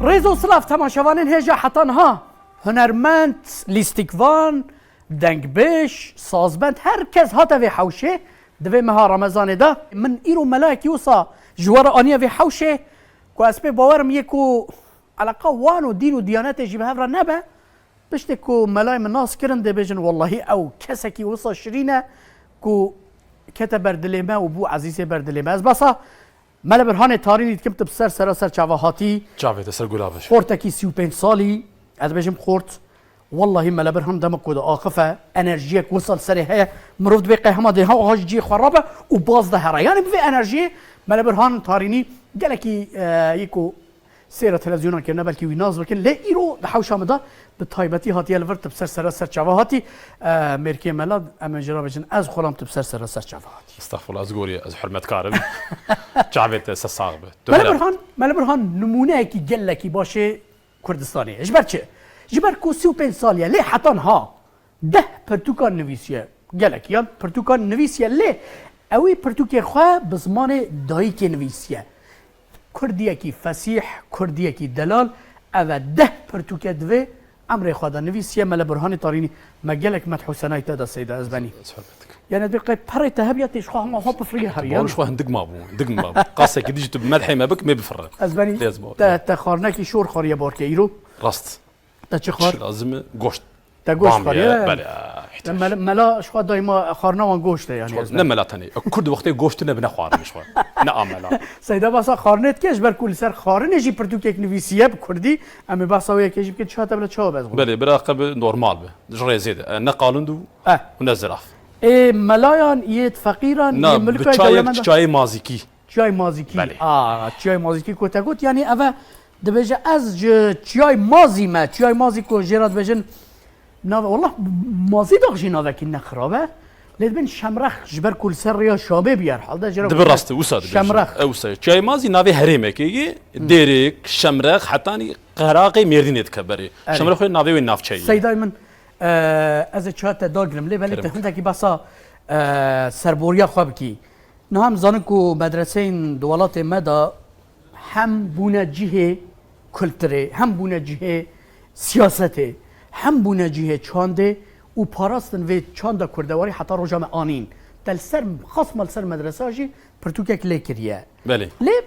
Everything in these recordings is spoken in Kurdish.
Rêz û silav temaşevanên hêja heta niha hunermend, lîstikvan, dengbêj, sazbend her kes hate vê hewşê di vê meha remezanê de. Min îro melayekî wisa ji we re aniye vê hewşê ku ez pê bawer im yê ku eleqa wan û dîn û diyanetê jî bi hev re nebe Piştî ku melayê min nas kirin dê bêjin wellahî ew kesekî wisa şirîn e ku kete ber dilê me û bû ezîzê ber dilê me. Ez behsa Mele Birhanê Tarînî dikim tu bi ser sera ser çava hatî. Çavê te ser gula bir. Xortekî sî û pênc salî, ez bêjim xort. Wellahî Mele Birhan dema ku diaxife enerjiyek wisa li serê heye mirov dibê qey hema dêha wiha ji cihê xwe rabe û baz de here. Yanî bi vê enerjiyê Mele Birhan Tarînî gelekî yê ku Sêra televizyonan kirine belkî wî nas bikin lê îro di hewşa min de bi taybetî hatiye li vir tu bi ser serra ser çava hatî mêrkê me la em ê jê re bêjin ez xulam tu bi ser serra ser çava hatî. Estağfurullah ez gorî ez hurmetkar im çavê te se sax be. Mele Burhan Mele Burhan nimûneyekî gelekî baş ê Kurdistanê ye ji ber çi ji ber ku sî û pênc sal ye lê heta niha deh pirtûkan nivîsiye gelekiyan pirtûkan nivîsiye lê ewî pirtûkên xwe bi zimanê dayikê nivîsiye Kurdiyekî fesîh, Kurdiyekî delal, ev e deh pirtûke divê emrê xwe de nivîsiye Mele Burhanê Tarînî, me gelek medh û senayî te da Seyda Ezbenî. Yanê divê qey perê te hebiya tê ji xwe hema xwe bifirî herî yan. Te bawer ji xwe hindik mabû, hindik mabû. Qasekî di jî tu bi medhê me bik mêbifire. Ezbenî, te te xarnekî şor xwariye barkê îro. Rast. Te çi xwar? Çi lazim e? Goşt. Te goşt xwar ye? Bale. Mela ji xwe dayî ma xwarina wan goşt e yanî. Ne mela tenê. Kurd wextê goşt tune bi ne xwarin ji xwe. Ne a mela. Seyda behsa xwarinê dike ji ber ku li ser xwarinê jî pirtûkek nivîsiye bi kurdî. Em ê behsa wê yekê jî bikin çiya te bila çawa be ez xwar. Belê bira qe bi normal be. Ji rêzê de. Ne qalund û ne ziraf. Ê melayan yê feqîran yê milka dewlemend. Çi çayê mazîkî. Çiyayê Mazîkî, a Çiyayê Mazîkî ku te got yanî ev e dibêje ez ji Çiyayê Mazî me, Çiyayê Mazî ku jê re dibêjin nave wallah Mazî dax jî navekî ne xirab e. Lê dibin Şemrex ji ber ku li ser rêya Şabê bûye her hal de jê re Dibe rast e wisa dibêjin. Şemrex. E wisa ye. Çiyayê Mazî navê herêmekê ye. Dêrêk, Şemrex hetanî Qeraqê Mêrdînê dike berê. Şemrex wê navê wê navçeyê ye. Seydayê min ez ê çiya te dagirim lê belê tu hindekî behsa serboriya xwe bikî. Niha em zanin ku medreseyên di welatê me de hem bûne cihê kulturê, hem bûne cihê siyasetê, hem bûne cihê çandê û parastin vê çanda kurdewarî heta roja me anîn. Te li ser xas ma li ser medresa jî pirtûkek lê kiriye. Belê. Lê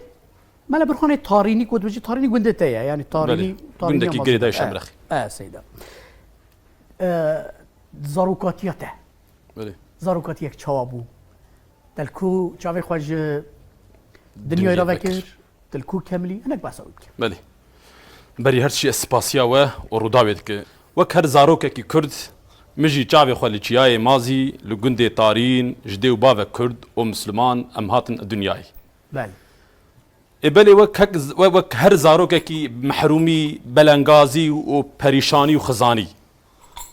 mele bir xanê Tarînî ku tu bijî Tarînî gundê te ye yanî Tarînî Gundekî girêdayê Şemrexê. Seyda. Zarokatiya te. Belê. Zarokatiyek çawa bû? Telku çavê xwe ji dinyayê re vekir, tilku kemlî hinek behsa wî bike. Belê. Berî her çi ez spasiya we û Rûdawê dike. Wek her zarokekî kurd min jî çavê xwe li çiyayê Mazî li gundê Tarîn ji dê û bavek kurd û misliman em hatin dinyayê. Belê. Ê belê wek hek wek her zarokekî mehrûmî, belengazî û perîşanî û xizanî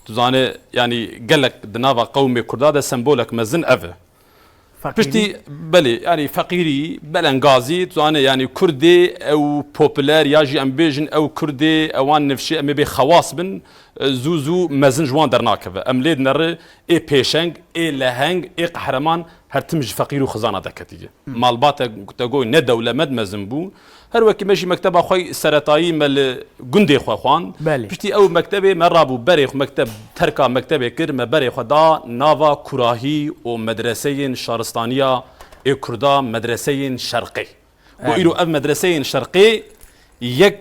Tu zanî yanî gelek di nava qewmê Kurda de sembolek mezin ev e. Piştî belê yanî feqîrî, belengazî tu zanî yanî Kurdê ew popüler ya jî em bêjin ew Kurdê ewan nifşê em ê bê xewas bin zû zû mezin ji wan dernakeve. Em lê dineri ê pêşeng, ê leheng, ê qehreman her tim ji feqîr û xizana deketî. Malbate Gutegoy ne dewlemed mezin bû Her wekî me jî mekteba xwe seretayî me li gundê xwe xwand. Piştî ew mektebê me rabû berê xwe mekteb terka mektebê kir me berê xwe da nava kurahî û medreseyên şaristaniya ê kurda medreseyên şerqê. Got îro ev medreseyên şerqê yek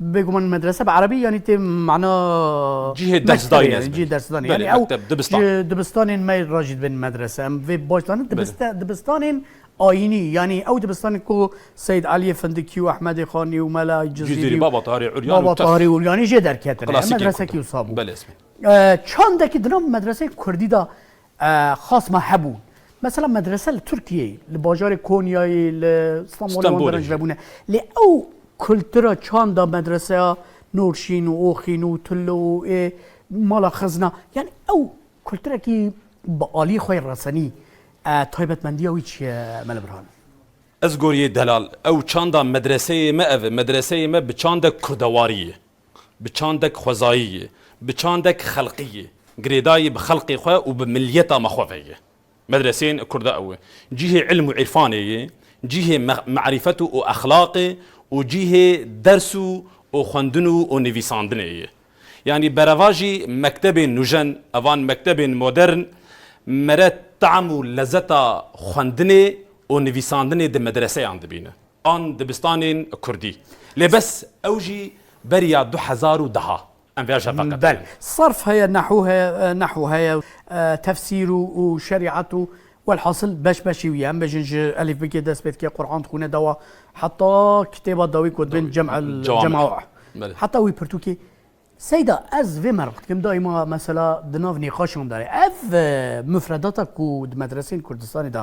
Bêguman medrese bi erebî yanî tê mana Cihê dersdanê ez cihê dersdanê yani ew dibistan dibistanên me re jî dibên medrese em vê baş danin dibistanên ayînî yanî ew dibistanê ku Seyid Eliyê Findikî û Ehmedê Xanî û Mela Cizîrî Baba Tarî Uryanî Baba Tarî Uryanî jê derketine medresekî wisa bû çandekî di nav medreseyê kurdî de xas me hebûn. Mesela medrese li Tirkiyeyê, li bajarê Konyayê, li Stenbolê wan derenc nebûne. Lê ew kultura çanda medreseya Nurşîn û Oxîn û Tulu û ê mala xizna yanî ew kulturekî bi aliyê xwe yê resenî taybetmendiya wî çi ye Mele Birhan? Ez goriyê delal ew çanda medreseyê me ev e. Medreseyê me bi çandek kurdewarî ye. Bi çandek xwezayî yê, bi çandek xelqî yê. Girêdayî bi xelqê xwe û bi milyeta me xwe ve ye. Medreseyên Kurd ew e. Cîhê îlm û îrfanê yê, cîhê merîfet û exlaqê û cîhê ders û û xwendin û û nivîsandinê yê. Yanî berevajî mektebên nûjen, evan mektebên modern mere team û lezeta xwendinê û nivîsandinê di medreseyan dibîne. an dibistanên kurdî lê bes ew jî beriya du hezar û deha em vêya jeva qet Bel, nekin. Sarf heye, nehû heye, nehw heye, tefsîr û û şerîat û welhasil beş beşî wî ye. Em bêjin ji elîfbikê dest pê dike, Quran dixwîne dewa heta kitêba dawî ku dibên cem el Cewamî. cemawih. Belê. Heta wî pirtûkê Seyda ez vê merq dikim dayê ma mesela di nav nîqaşan de ev mufredata ku di medreseyên Kurdistanê de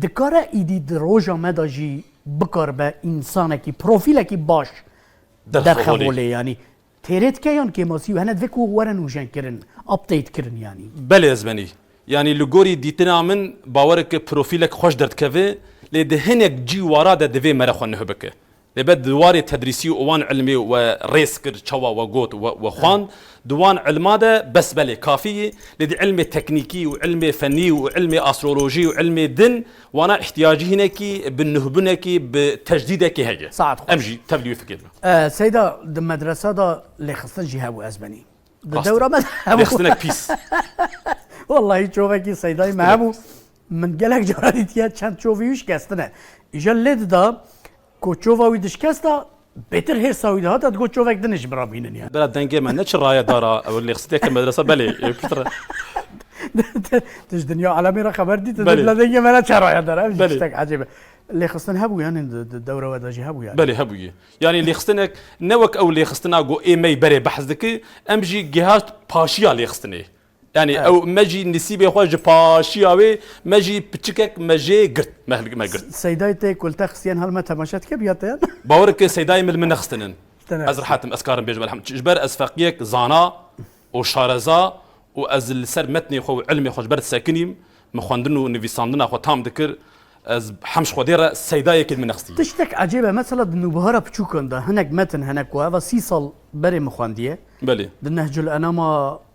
Dikare êdî di roja me de jî bikaribe însanekî, profîlekî baş derxevolê yanî. Têrê dike yan kêmasî û hene divê ku were nûjenkirin, updatekirin yanî? Belê ezbenî. Yanî li gorî dîtina min bawer e ku profîlek xweş derdikeve lê di hinek cî wara de divê mere xwe nuh bike. Lê be di warê tedrîsî û wan îlmê we rêz kir çawa we got û we xwend. Di wan îlma de bes belê kafî yê, lê di îlmê teknîkî û îlmê fenî û îlmê astrolojî û îlmê din wana îhtîyacî hinekî bi nuhbunekî bi tejdîdekî heye. Saet xweş. Em jî tevlî wê fikê dikin. Seyda di medresa de lêxistin jî hebû ez benî. Di dewra me de hebû. Lêxistinek pîs. Wellahî çovekî Seydayî me hebû. Min gelek caran dîtiye çend çovê wî şikestine. Îja lê dida ku çova wî dişkesta, bêtir hêrsa wî dihata digot çovek din ê ji min re bînin. Bera dengê me ne çi raye dara ew lê xisiteke medresa belê ew piştre. Tu ji dinya alemê re xeber dî tu dê bila dengê me ne çi raye dara ev jî tiştek ecêb e. Lêxistin hebû yanî di dewra we de jî hebû yanî. Belê hebûye. Yanî lêxistinek ne wek ew lêxistina ku ê me yî berê behs diki em jî gihat paşiya lêxistinê. Yanî ew me jî nisîbê xwe ji paşiya wê me jî piçikek me jê girt me girt. Seydayê te kulte xistiyen hal me temaşe dike biya te yan. Bawer bike seydayê min li min nexistinin. Ez rehet im ez karim bêjim elhamdulillah ji ber ez feqiyek zana û şareza û ez li ser metnê xwe û ilmê xwe ji ber sekinîm min xwendin û nivîsandina xwe tam dikir ez hem ji xwedê re seydayekê li min nexistiye. Tiştek ecêb e mesela di nûbihara piçûkan de hinek metin hene ku heva sî sal berê min xwendiye. Belê. Di Nehcul Enama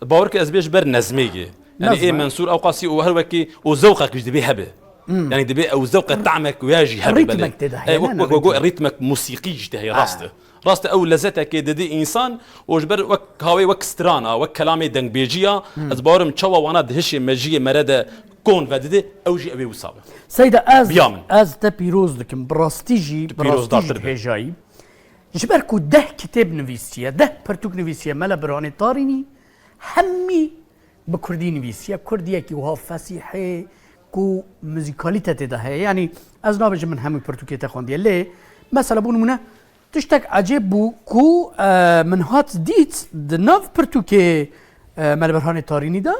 Bawer ke ez bê ji ber nezmêgê. Yanî ê Mensûr Ewqasî û her wekî û zewqek jî dibê hebe. Yanî dibê ew zewqe tamek wê jî hebe belê. Rîtmek tê de heye ne? Wek got rîtmek musîqî jî tê heye rast e. Rast e ew lezetekê didê însan û ji ber wek hawê wek stran a, wek kelamê dengbêjî ya, ez bawer im çawa wana di hişê mejiyê me re de kon vedidê ew jî ew ê wisa be. Seyda ez ez te pîroz dikim. Bi rastî jî bi rastî jî dibêjayî. Ji ber ku deh kitêb nivîsiye, deh pirtûk nivîsiye, mele Birhanê Tarînî hemî bi kurdî nivîsiye, kurdiyekî wiha fesîhê ku muzîkalîte tê de heye. Yanî ez nabêjim min hemû pirtûkê te xwendiye lê mesela bû nimûne tiştek ecêb bû ku min hat dît di nav pirtûkê mele Birhanê Tarînî de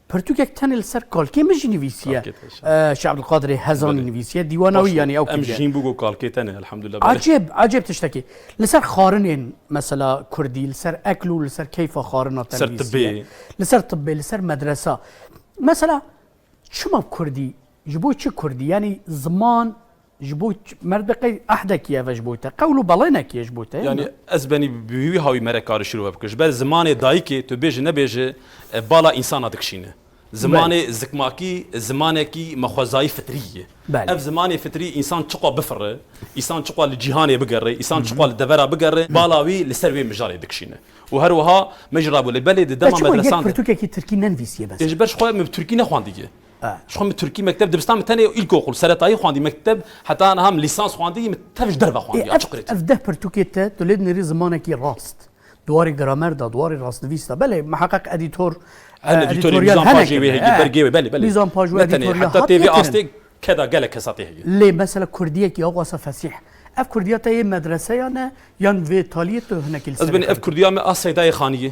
Pirtûkek tenê li ser kalkê min jî nivîsiye. Şeh Abdulkadirê Hezanî nivîsiye dîwana wî yanî ew kiriye. Em jîn bû ku kalkê tenê elhamdulillah. Acêb acêb tiştekî. Li ser xarinên mesela Kurdî li ser ekl û li ser keyfa xarina te nivîsiye. Li ser tibê. Li ser tibê, li ser medresa. Mesela çima Kurdî, ji bo çi Kurdî? Yanî ziman Ji bo me di qey ehdekî ev e ji bo te, qewl û belênekî ye ji bo te. Yanî ez benî bi wî hawî me re karê şirove bikim. Ji ber zimanê dayikê tu bêje nebêje bala însana dikişîne. Zimanê zikmakî zimanekî me xwezayî fitrî ye. Ev zimanê fitrî însan çiqo bifire, îsan çiqo li cîhanê bigere, îsan çiqo li devera bigere bala wî li ser wê mijarê dikişîne. Û her wiha me jî rabû lê belê di dema medresan de. Te çiqo yek pirtûkekî tirkî nenivîsiye mesela? Ji ber xwe min bi tirkî nexwandiye. Ji xwe min Tirkî mekteb dibistan min tenê îlkokul, seretayî xwendî, mekteb heta niha min lîsans xwendî, min tev ji derve xwendî ya çiqirê tî. Ev deh pirtûkê te tu lê dinêrî zimanekî rast di warê gramer de, di warê rastnivîs de belê miheqeq edîtor Hene edîtorê mîzan pajê wê heye bergê wê belê belê. Mîzan paj wê edîtorê ya hatiye kirin. Ne tenê heta tê vê astê ke de gelek kesa tê heye. Lê mesela kurdiyekî aw asa fesîh ev kurdiya te yê medreseyan e yan vê taliyê tu hinekî li ser e kar dikî? Ez benê ev kurdiya me a Seydayê Xaniyê.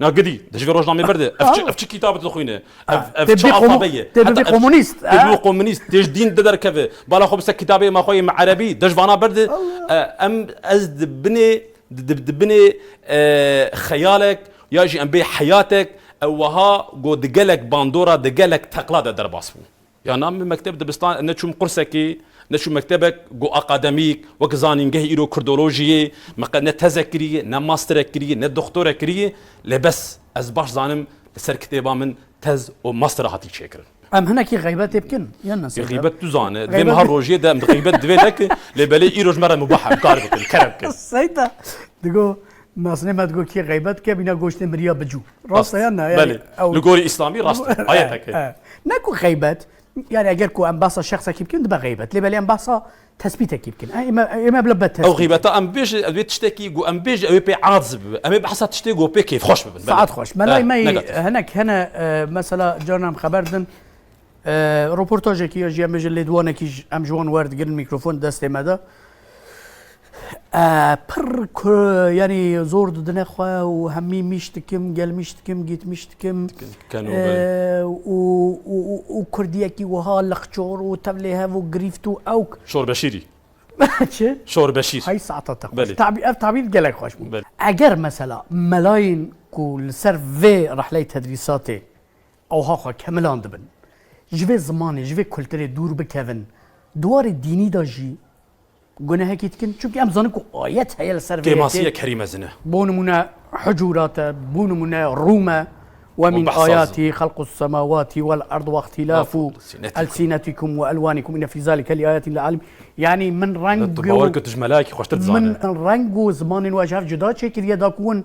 Na gidî di ji rojnamêber de ev çi kîtabê tu dixwîne ev çi alfabe ye tê bibî komûnîst tê bibî komûnîst tê ji dîn de derkeve bala xwe bi ser kîtabê ma xwe yê me erebî de ji vana ber de em ez di binê di binê xeyalek ya jî em bê heyatek ew wiha got di gelek bandora di gelek teqla de derbas bû. Ya na min mekteb dibistan neçûm qursekê, neçûm mektebek ku aqademîk wek zanîngeh îro kurdolojî yê, min qet ne tezek kirîyê, ne masterek kirîyê, ne doktorek kirîyê, lê bes ez baş zanim li ser kitêba min tez û master hatî çêkirin. Em hinekî xeybetê bikin yan na seba? Xeybet tu zane, divê min her rojê de em xeybet divê nekin, lê belê îro ji me re mubah e, em kar bikin, kerem bikin. Seyda, digo Naznê me digot kê xeybet dike bîne goştê miriya bicû. Rast e yan na? Yani Belê. ew Li gorî îslamî rast e. Ayetek e. Ne ku xeybet yani eger ku em behsa şexsekî bikin dibe xeybet. Lê belê em behsa tespîtekî bikin. Ême bila be tespît. Ew xeybeta em bêjin ew ê tiştekî ku em bêjin ew ê pê adz bibe. Em ê behsa tiştê ku pê kêfxweş bibin. Saet xweş. Melay me hinek hene mesela carna em xeber din Roportajekî ya jî em bêjin lêdwanekî ji em ji wan werdigirin mîkrofon destê me de. Pir yanî zor didine xwe û hemî mîş dikim, gelmîş dikim, gîtmîş dikim û kurdiyekî wiha lixçor û tevlê hev û girîft û ewk. Şorbeşîrî Çi? Şorbeşîr. Hey saeta te xweş. Tabî ev tabîr gelek xweş bû. Eger mesela melayên ku li ser vê rehleyê tedrîsatê Ewha xwe kemilan dibin. Ji vê zimanê, ji vê kulturê dûr bikevin. Di warê dînî de jî gunehekî dikin. Çimkî em dizanin ku ayet heye li ser vê yekê. Kêmasiya Kerîm mezin e. Bo nimûne Hucurat e, bo nimûne Rûm e. We mîn ayatî xelqûs semawatî wel erd we îxtîlafû elsinetikum we elwanikum inne fî zalike li ayatîn li alim. Yanî min reng û. Tu bawer kir tu ji melayekî xweştir dizane. Min reng û zimanên we ji hev cuda çêkiriye da ku hûn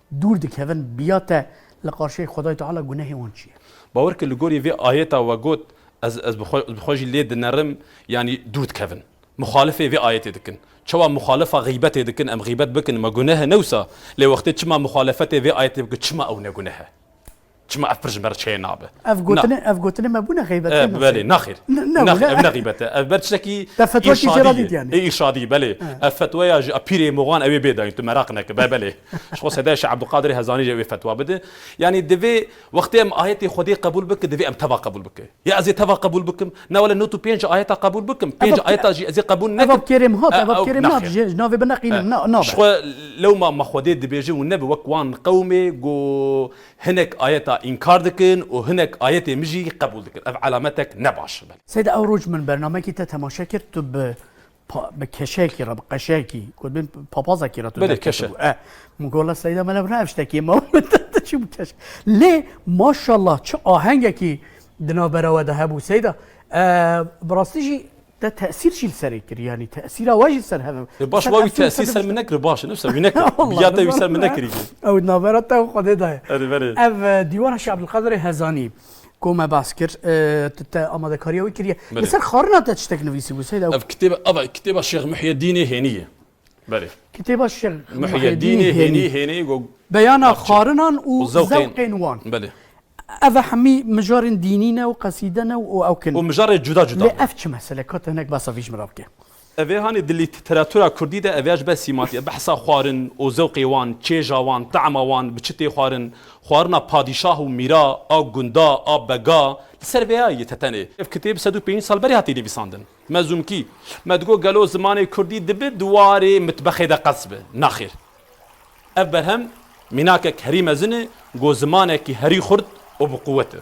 Dûr dikevin biya te li qarşiyê Xwedayê Teala gunehê wan çi ye? Bawer ke li gorî vê ayeta we got ez ez bi xwe jî lê dinerim yanî dûr dikevin. Muxalifê vê ayetê dikin. Çawa muxalifa xîbetê dikin em xîbet bikin me guneh e ne wisa lê wextê çima muxalifetê vê ayetê bikin çima ew ne guneh e? Çima ev pir ji me re çeye nabe. Ev gotinê ev gotinê me bûne xeybetê Ev mi? belê nexêr. Ne- ne Nex- bûne. Ev ne xîbet e. Ev ber tiştekî Te fetwa kî jê ra dît yani? Ê îrşadî belê. Ev fetweya ji a pîrê Moxan ew ê bêdayîn tu meraq neke. Be belê. Ji xwe sedaya Şeh Ebdulkadirê Hezanî jî ew ê fetwa bide. Yanî divê wextê em ayetê Xwedê qebûl bikin divê em teva qebûl bikin. Ya ez ê teva qebûl bikim? Na wele nût û pênc ayeta qebûl bikim. Pênc Ev- ayeta jî ez ê qebûl Ev nekim. ev kêrê min hat ev ev kêrê min hat Nexêr. ji ji navê bineqînim ne Ji nabe. xwe lewma me Xwedê dibêjin û nebe wek wan qewmê ku Hinek ayeta înkar dikin û hinek ayetê min jî qebûl dikin. Ev elametek ne baş e. Belê. Seyda ew roj min bernamekî te temaşe kir tu bi pa bi keşekî re bi qeşekî gotbin papazekî re tu Belê, keşe. derketibû eh min got la Seyda melev ne ev ştekî ye ma min te te çi bû keşk lê maşallah çi ahengekî di navbera we de hebû Seyda eh bi rastî jî Te tesîr jî li serê kir yanî tesîra we jî li ser hev e. E baş wa wî tesîr ser min nekir baş e ne wisa wî nekir. Ya te wî ser min nekirî jî. Ew navbera te û Xwedê de ye. Erê berê. Ev dîwana Şeh Ebdulkadirê Hezanî ku me bas kir tu te amadekariya wî kiriye. Li ser xwarina te tiştek nivîsîbû Seyd? Ew kitêb ava kitêba Şêx Muhiyedînê hênî ye. Belê. Kitêba Şil Muhîedînê Hênî Hênî go beyana xwarinan û zewqên wan. Belê. Ev e hemî mijarên dînî ne û qesîde ne û ew kin. Û mijarê cuda cuda ne. Lê ev çi meselek hat hinek basa vî ji min re bike. Ev ê hanê di lîteratura kurdî de ev ya ji ber sîmatî e. Behsa xwarin û zewqê wan, çêja wan, teama wan, bi çi tê xwarin, xwarina padîşah û mîra a gunda a bega li ser vê ya ye te tenê. Ev kitêb sed û pênc sal berê hatiye nivîsandin. Mezûmkî, Me digot gelo zimanê kurdî dibe di warê mitbexê de qels be? Naxêr. Ev berhem mînakek herî mezin e ku zimanekî herî xurt û bi quwet e.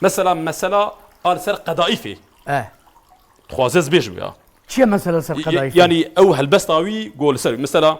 Mesela mesela a li ser qedaîfê. Eh. Dixwaze ez bêjim ya. Çi ye mesela li ser qedaîfê? Yanî ew helbesta wî ku li ser wî. Mesela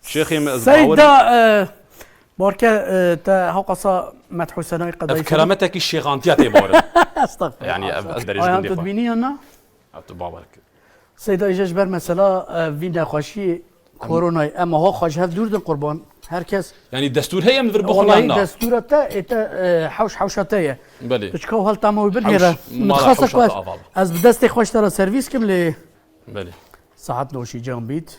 Seyda barke te heqasa Medhusenay qedayî. Ev kerametekî şêxantiya tê barin. Estağfurullah. Yani ev ez berêjim dê. Ev bînî yan na? Ev tu bawer kir. Seyda îje ji ber mesela vî nexweşiyê koronayê em ho xwe ji hev dûr din qurban. Her kes. Yani destûr heye em vir bixwin yan na? Destûra te ê te hewş hewşa te ye. Belê. Tu çika û helta me wî binêre. Min xasa xwe ez bi destê xwe ji te re servîs kim lê. Belê. Saet noşîcan bît.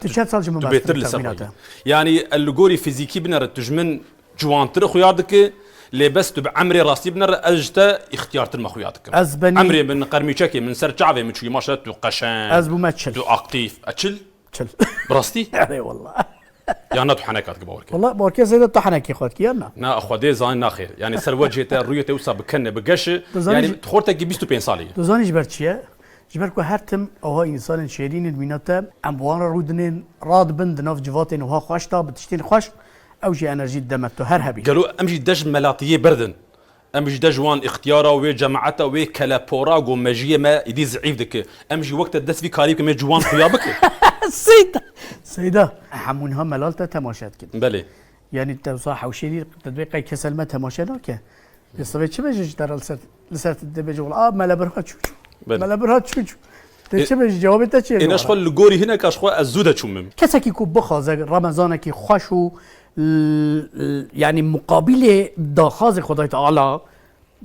Tu çend sal ji min baş dikî texmîna te? Yanî li gorî fîzîkî bine re tu ji min ciwantir xuya dikî lê bes tu bi emrê rastî bine re ez ji te îxtiyartir me xuya dikim. Ez benî Emrê min qermîçekê min ser çavê min çûyî maşallah tu qeşeng Ez bû me çil. Tu aktîf. E çil? Çil. Bi rastî? Erê walla. Ya na tu heneka dikî bawer kir. Walla bawer kir zêde tu henekî xwe dikî ya na? Na xwedê zanî naxêr. Yanî ser wecihê te rûyê te wisa bi ken e bi geş e. Yanî tu xortekî bîst û pênc salî yî. Tu zanî ji ber çi ye? Ji ber ku her tim ewha însanên şêrîn in mîna te, em bi wan re rû dinên, radibin di nav civatên ewha xweş de bi tiştên xweş, ew jî enerjî dide me, tu her hebî. Gelo em jî dej melatiyê berdin? Em jî dej wan îxtiyara wê cemaeta wê kelepora ku mejiyê me êdî zîîf dike. Em jî wek te dest vî karî bikin mê ciwan xuya bikin. Seyda! Seyda! Hemû niha melal te temaşe dikin. Belê. Yanî dewsa hewşênî te divê qey kes li me temaşe nake. Lê sivê çi bêje ji te re li ser te dê bêje wila a me li bir hat çû çû. Me li bir hat çû çû. Te çi bêje cewabê te çi ye? Êna ji xwe li gorî hineka ji xwe ez zû de çûm min. Kesekî ku bixwaze remezanekî xweş û yanî muqabîlê daxwazê Xwedayê Teala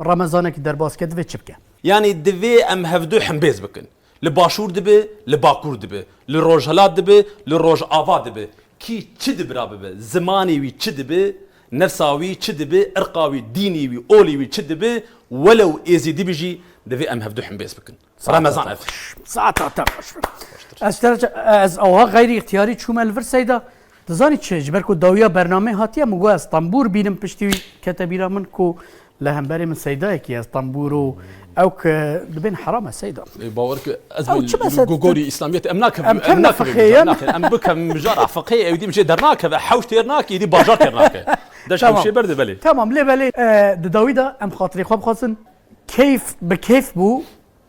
remezanekî derbas bike divê çi bike? Yanî divê em hevdu hembêz bikin. Li Başûr dibe, li Bakur dibe, li Rojhilat dibe, li Rojava dibe, kî çi dibira bibe, zimanê wî çi dibe, nefsa wî çi dibe, irqa wî, dînê wî, olê wî çi dibe, welew êzîdî be jî, divê em hevdu hembêz bikin. Remezan ev. Saeta te xweş be. Ez te re çi? Ez awiha xeyrî îxtiyarî çûme li vir seyda. Dizanî çi? Ji ber ku dawiya bernameyê hatiye min got ez tembûr bînim piştî wî kete bîra min ku li hemberê min seydayekî ye ez tembûr û ew ki dibên heram e seyda. Lê bawer ki ez Ew çi bes e tu gorî îslamiyetê em nakevim Em em kevne nakevim fiqê mijar yan. nakevim em bikevim mijar a fiqê ewî dî mijê dernakeve hewş têr nake êdî bajar têr nake. Deş Tamam. hewşê berdê belê. Tamam lê belê e, di dawî de em xatirê xwe bixwazin keyf bi keyf bû